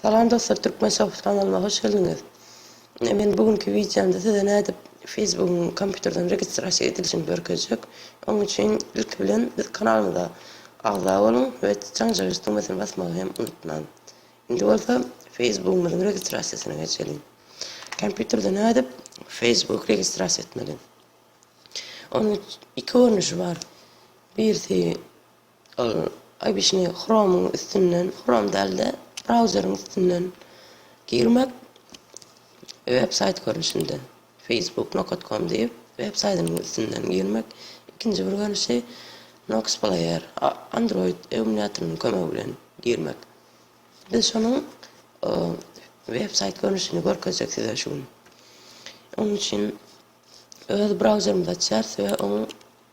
Salam dostlar Türkmen Soft kanalyma hoş geldiňiz. Ine men bu günki wideomda size nädip Facebookyň kompýuterden registrasiýa edilişini görkezjek. Onuň üçin ilki bilen biz kanalymyza agza boluň we janjagaz düwmesini basmagy hem unutmaň. Indi bolsa Facebookymyzyň registrasiýasyna geçeliň. Kompýuterde nädip Facebook registrasiýa etmeli? Onuň iki görnüşi bar. Birisi Ol obyçnyý Chrome-yň üstünden, Chrome däl-de, brauzeriň üstünden girmek, websaýt görnüşinde, Facebook Nokatkom diýip, websaýtynyň üstünden girmek, ikinji bir görnüşi Noxplayer, Android emulýatorynyň kömegi bilen girmek. Biz şonuň websaýt görnüşini görkezjek size şu gün. Onuň üçin öz brauzerimizi açýarys we oň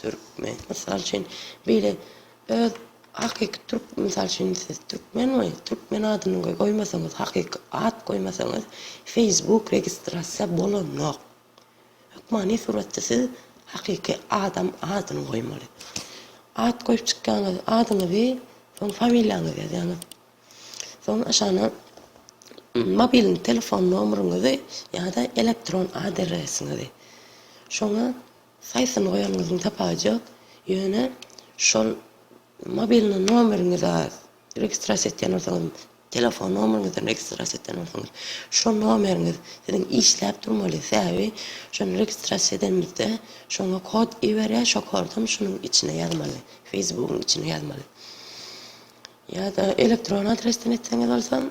Türkmen, mysal üçin, beýle öz hakyky türk, mysal üçin, siz türkmen we türkmen adyny goýmasaňyz, hakyky at goýmasaňyz, Facebook registrasiýa bolanok. Hökmany suratda siz hakyky adam adyny goýmaly. At goýup çykýaňyz, adyňyzy, soň familiýaňyzy ýazýaňyz. Soň aşagyna mobil telefon nomeryňyzy ýa-da elektron adresiňizi. Şoňa Haýsyny goýanyňyzyň tapajak, ýöne şol mobilni nomeriňize registrasiýa etýän bolsaňyz, telefon nomeriňizden registrasiýa etýän bolsaňyz, şo nomeriňiz siziň işläp durmaly, sebäbi şony registrasiýa edenimizde şoňa kod iberýär, şo kodam şunuň içine ýazmaly, Facebookyň içine ýazmaly. Ýa-da elektron adresden etseňiz bolsa,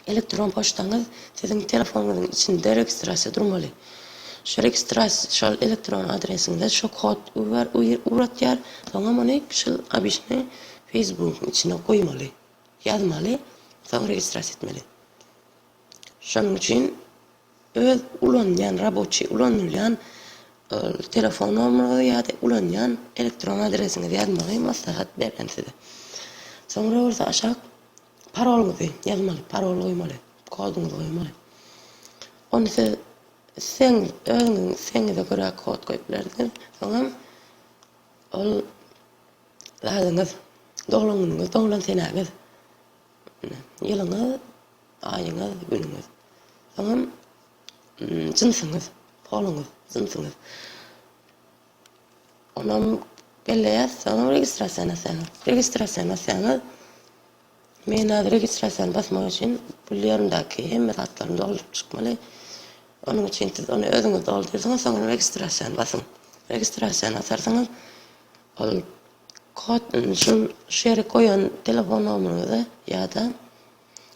Elektron poçtaňyz siziň telefonyňyzyň içinde registrasiýa durmaly. Şu registrasiýa şol elektron adresiňize şu kod uber uratýar, soňam ony şul obişne feýsbugyň içine goýmaly, ýazmaly, soň registrasiýa etmeli. Şonuň üçin öz ulanýan raboçi ulanylýan telefon nomerinizi ýa-da ulanýan elektron adresiňizi ýazmagy maslahat berýän size. Soňra bolsa aşak Parolyňyzy ýazmaly, parol goýmaly, koduňyzy goýmaly. Ony siz isleň özüňiziň islegiňize görä kod goýup bilersiňiz. Soňam ol zadyňyz, doglan günüňiz, doglan senäňiz, ýylyňyz, aýyňyz, günüňiz. Soňam jynsyňyz, poluňyz, jynsyňyz. Onam gelle ýazsaňam registrasiýa nasýaňyz. Registrasiýa nasýaňyz. Men häzir registrasiýany basmak üçin pul ýerimdäki hemme zatlarymy dolduryp çykmaly. Onuň üçin siz ony özüňiz doldursaňyz soňam registrasiýany basyň. Registrasiýany basarsyňyz. Ol kod şul şu ýere goýan telefon nomeryňize ýa-da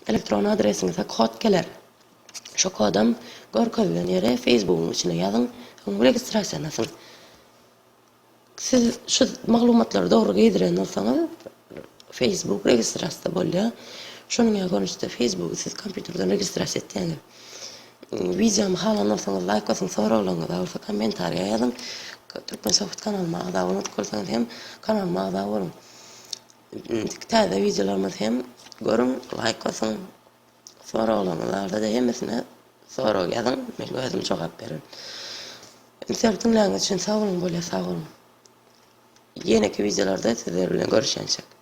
Elektron adresiňize kod geler. Şo kodam görkezilen ýere Facebookyň içine ýazyň, soňam registrasiýalanyň. Siz şu maglumatlary dogry girdiren bolsaňyz, Facebook registrasiýa bolýar. Şonuň ýaly görnüşde Facebooky siz kompýuterden registrasiýa etýäňiz. Wideomy halan bolsaňyz, laýk basyň, soraglaryňyz bolsa kommentariýa ýazyň. Türkmen Sohbet kanalyma agza bolmadyk bolsaňyz hem kanalyma agza boluň. Indiki täze wideolarymyzy hem görüň, laýk basyň. Soraglaryňyz barada-da hemmesine sorag ýazyň, men özüm jogap bererin. Inter diňläniňiz üçin sag boluň, bolýa sag boluň. Ýeneki wideolarda sizler bilen görüşençek.